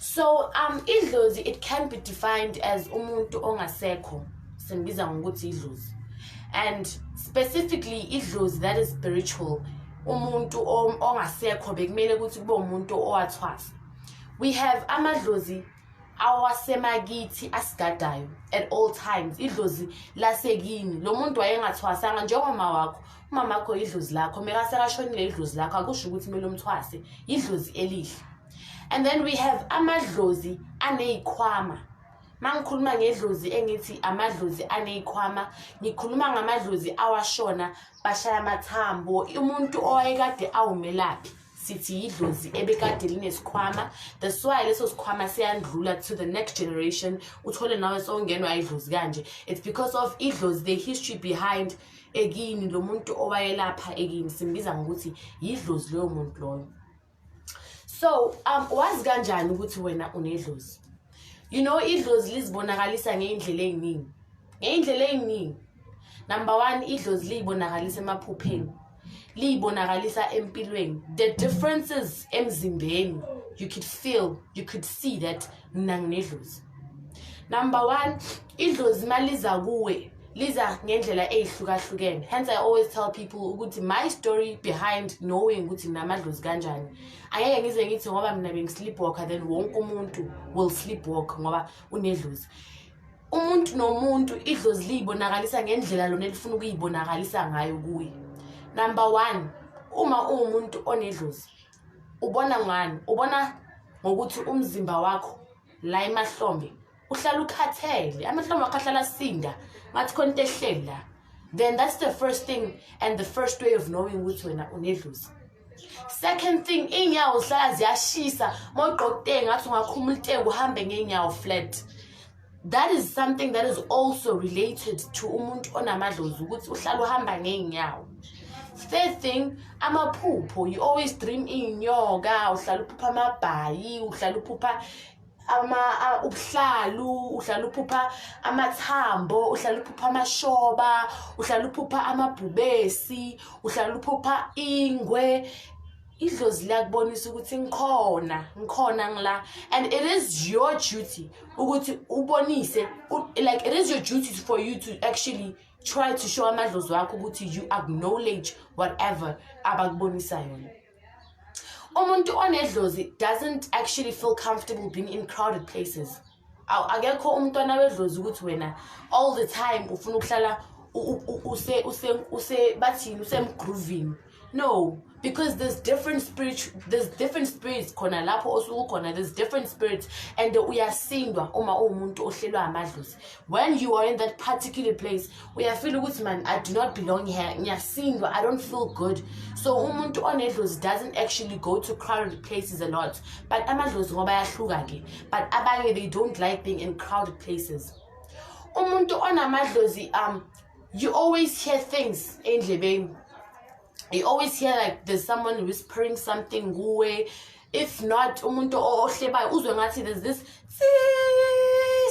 so um idlozi it can be defined as umuntu ongasekho simbiza ngokuthi idlozi and specifically idlozi that is spiritual umuntu ongasekho bekumele ukuthi kube umuntu owathwasa we have amadlozi awasemakithi asigadayo at all times idlozi lasekini lo muntu wayengathwasanga njengoma wakho umamakho idlozi lakho mekasekashonile idlozi lakho akusho ukuthi kumele umthwase yidlozi elihle and then we have amadlozi aney'khwama mangikhuluma ngedlozi engithi amadlozi aney'khwama ngikhuluma ngamadlozi awashona bashaya amathambo umuntu owayekade awumelaphi sithi yidlozi ebekade linesikhwama that's why leso sikhwama siyandlula to the next generation uthole nawe sowungenwa idlozi kanje it's because of idlozi the history behind ekini lo muntu owayelapha ekini simbiza ngokuthi yidlozi loyo muntu loyo so um wazi kanjani ukuthi wena unedlozi you know idlozi lizibonakalisa ngey'ndlela ey'ningi ngey'ndlela ey'ningi number one idlozi liyibonakalisa emaphupheni liyibonakalisa empilweni the differences emzimbeni you could feel you could see that mina nginedlozi number one idlozi uma liza kuwe liza ngendlela eyihlukahlukene hence i always tell people ukuthi my story behind knowing ukuthi namadlozi kanjani angeke ngize ngithi ngoba mina bengisleep walker then wonke umuntu will sleep walk ngoba unedlozi umuntu nomuntu idlozi liyibonakalisa ngendlela lona elifuna ukuyibonakalisa ngayo kuye number one uma uwumuntu onedlozi ubona ngani ubona ngokuthi umzimba wakho la emahlombe uhlala ukhathele amahlombe akho ahlala sinda ngathi khona into ehleli la then that's the first thing and the first way of knowing ukuthi wena unedluzi second thing iy'nyawo zihlala ziyashisa uma ugqoka utenge ngathi ungakhuma ulitenge uhambe ngey'nyawo flat that is something that is also related to umuntu onamadlozi ukuthi uhlala uhamba ngey'nyawo third thing amaphupho you always dream iy'nyoka uhlala uphupha amabhayi uhlala uphupha ama ubuhlalu uhlala uphupha amathambo uhlala uphupha amashoba uhlala uphupha amabhubesi uhlala uphupha ingwe idlozi liyakubonisa ukuthi ngikhona ngikhona ngila and it is your duty ukuthi ubonise like it is your duty for you to actually try to show amadlozi wakho ukuthi you acknowledge whatever abakubonisa yona umuntu onedlozi doesn't actually feel comfortable being in crowded places awu akekho umntwana wedlozi ukuthi wena all the time ufuna ukuhlala bathini usemgroovini no because there's different spirit there's different spirits khona lapho osuku khona there's different spirits and uyasindwa uma uwumuntu ohlelwa amadlozi when you are in that particular place uyafila ukuthi man i do not belong here ngiyasindwa i don't feel good so umuntu onedlozi doesn't actually go to crowded places a lot but amadlozi ngoba ayahluka ke but abanye they don't like being in crowded places umuntu onamadlozi um you always hear things endlebeni you always hear like there's someone whispering something kuwe if not umuntu ohlebayo uzwe ngathi there's this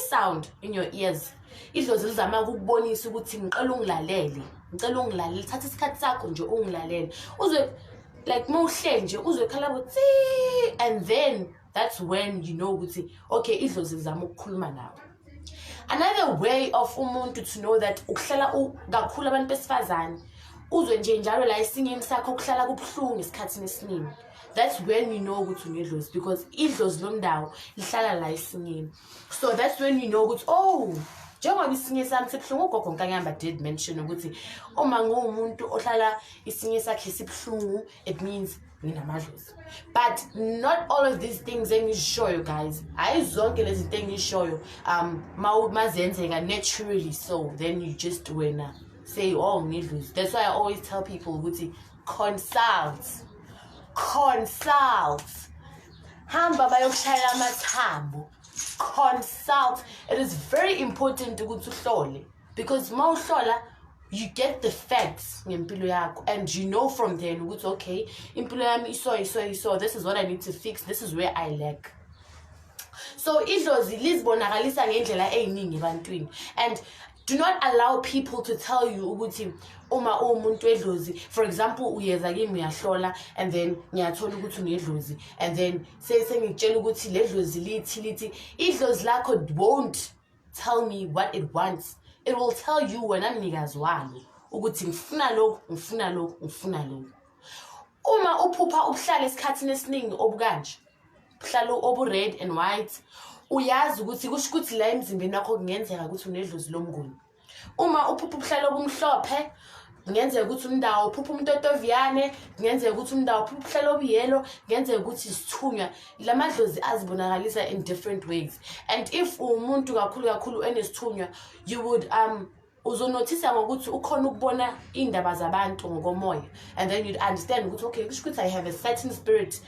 sound in your ears idlozi lizama ukubonisa ukuthi ngicela ungilalele ngicela ungilalele thatha isikhathi sakho nje ungilalele uzwe like mawuhle nje uzwe khala ukuthi and then that's when you know ukuthi okay idlozi lizama ukukhuluma nawe another way of umuntu to know that ukuhlala kakhulu abantu besifazane uzwe nje njalo la esingeni sakho kuhlala kubuhlungu esikhathini esiningi that's when you know ukuthi unedlozi because idlozi lomndawo lihlala la esingeni so that's when you know ukuthi oh njengoba isinye sami sibuhlungu ugogo nkanyamba did mention ukuthi uma ngiwumuntu ohlala isinye sakhe sibuhlungu it means nginamadlozi but not all of these things engizishoyo guys hhayi zonke lezi zinto engizishoyo um mazenzeka naturally so then you just wena say oh ngidlozi that's why i always tell people ukuthi consult consult hamba bayokushayela amathambo consult it is very important ukuthi uhlole because uma uhlola you get the facts ngempilo yakho and you know from then ukuthi okay impilo yami iso iso iso this is what i need to fix this is where i lack so idlozi lizibonakalisa ngendlela eyiningi ebantwini and do not allow people to tell you ukuthi uma uwumuntu wedlozi for example uyeza kimi uyahlola and then ngiyathola ukuthi unedlozi and then sengikutshela ukuthi le dlozi lithi lithi idlozi lakho won't tell me what it wants it will tell you wena mnikazi walo ukuthi ngifuna lokhu ngifuna lokhu ngifuna lokhu uma uphupha ubuhlala esikhathini esiningi obukanje ubuhlala obu-red and white uyazi ukuthi kusho ukuthi la emzimbeni wakho kungenzeka ukuthi unedlozi lomnguni uma uphupha ubuhlala obumhlophe kungenzeka ukuthi umndawo uphupha umuntu otoviyane kungenzeka ukuthi umndawo uphupha uhlala obuyelo kungenzeka ukuthi isithunywa la madlozi azibonakalisa in different ways and if uwumuntu kakhulu kakhulu enesithunywa you would um uzonothisa ngokuthi ukhona ukubona iy'ndaba zabantu ngokomoya and then you'd understand ukuthi okay kusho ukuthi i have a certain spirit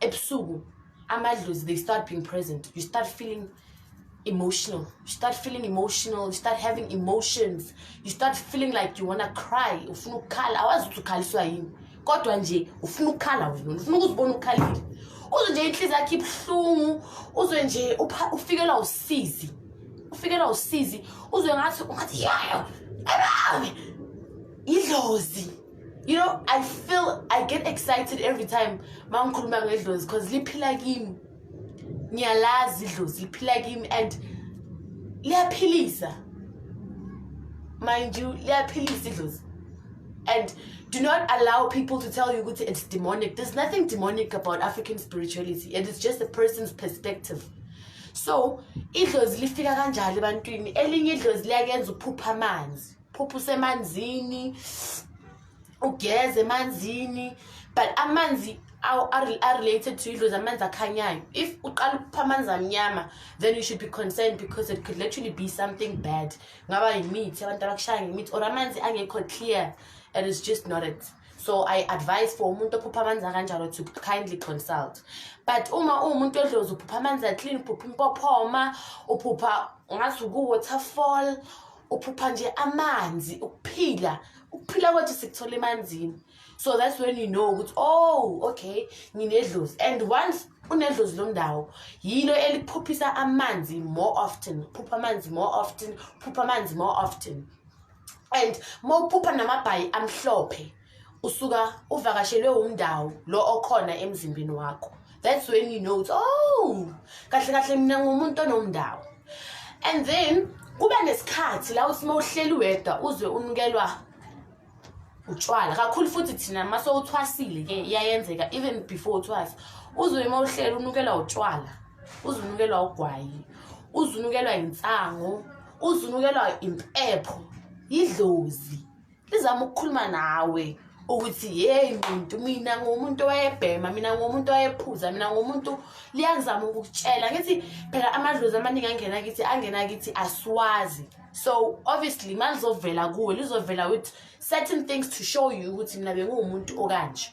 ebusuku amadlozi they start being present you start feeling emotional you start feeling emotional you start having emotions you start feeling like you wanna cry ufuna ukukhala awazi ukuthi ukhaliswa yini kodwa nje ufuna ukukhala wena ufuna ukuzibona ukukhalile uzwe nje inhliziyo yakhe ibuhlungu uzwe nje ufikelwa usizi ufikelwa usizi uzwe ngathi ungathi yayo abawe idlozi you know i feel i get excited every time ma ngikhuluma ngedlozi because liphila kimi ngiyalazi idlozi liphila kimi and liyaphilisa mind you liyaphilisa idlozi and do not allow people to tell you ukuthi it's demonic there's nothing demonic about african spirituality it is just a person's perspective so idlozi lifika kanjalo ebantwini elinye idlozi liyakenza uphupha amanzi phupha usemanzini ugeze emanzini but amanzi are-related to idlozi amanzi akhanyayo if uqala ukupha amanzi amnyama then you should be concerned because it could literally be something bad ngaba yimithi abantu abakushaya ngemithi or amanzi angekho clear and it's just not it so i advise for umuntu ophupha amanzi akanjalo to kindly consult but uma uwumuntu odlozi uphupha amanzi aclean uphupha impophoma uphupha ngazi ukuwaterfall uphupha nje amanzi ukuphila ukuphila kwethu sikuthola emanzini so that's when you know ukuthi oh okay nginedlozi and once unedlozi lomndawo yilo eliphuphisa amanzi more often phupha amanzi more often phupha amanzi more often and mawuphupha namabhayi amhlophe usuka uvakashelwe wumndawo lo okhona emzimbeni wakho that's when you know oh kahle kahle mina ngumuntu onomndawo and then kuba nesikhathi la uthi uma uhleli wedwa uzwe unukelwa utshwala kakhulu futhi thina uma sowuthwasile ke iyayenzeka even before uthwasa uzwe uma uhleli unukelwa utshwala uzwe unukelwa ugwayi uzwe unukelwa insango uzwe unukelwa impepho yidlozi izama ukukhuluma nawe ukuthi yeyi muntu mina ngumuntu owayebhema mina ngumuntu owayephuza mina ngumuntu liyangizama ukukutshela ngithi phela amadlozi amaningi angena kithi angena kithi asiwazi so obviously ma lizovela kuwe lizovela with certain things to show you ukuthi mina benguwumuntu okanje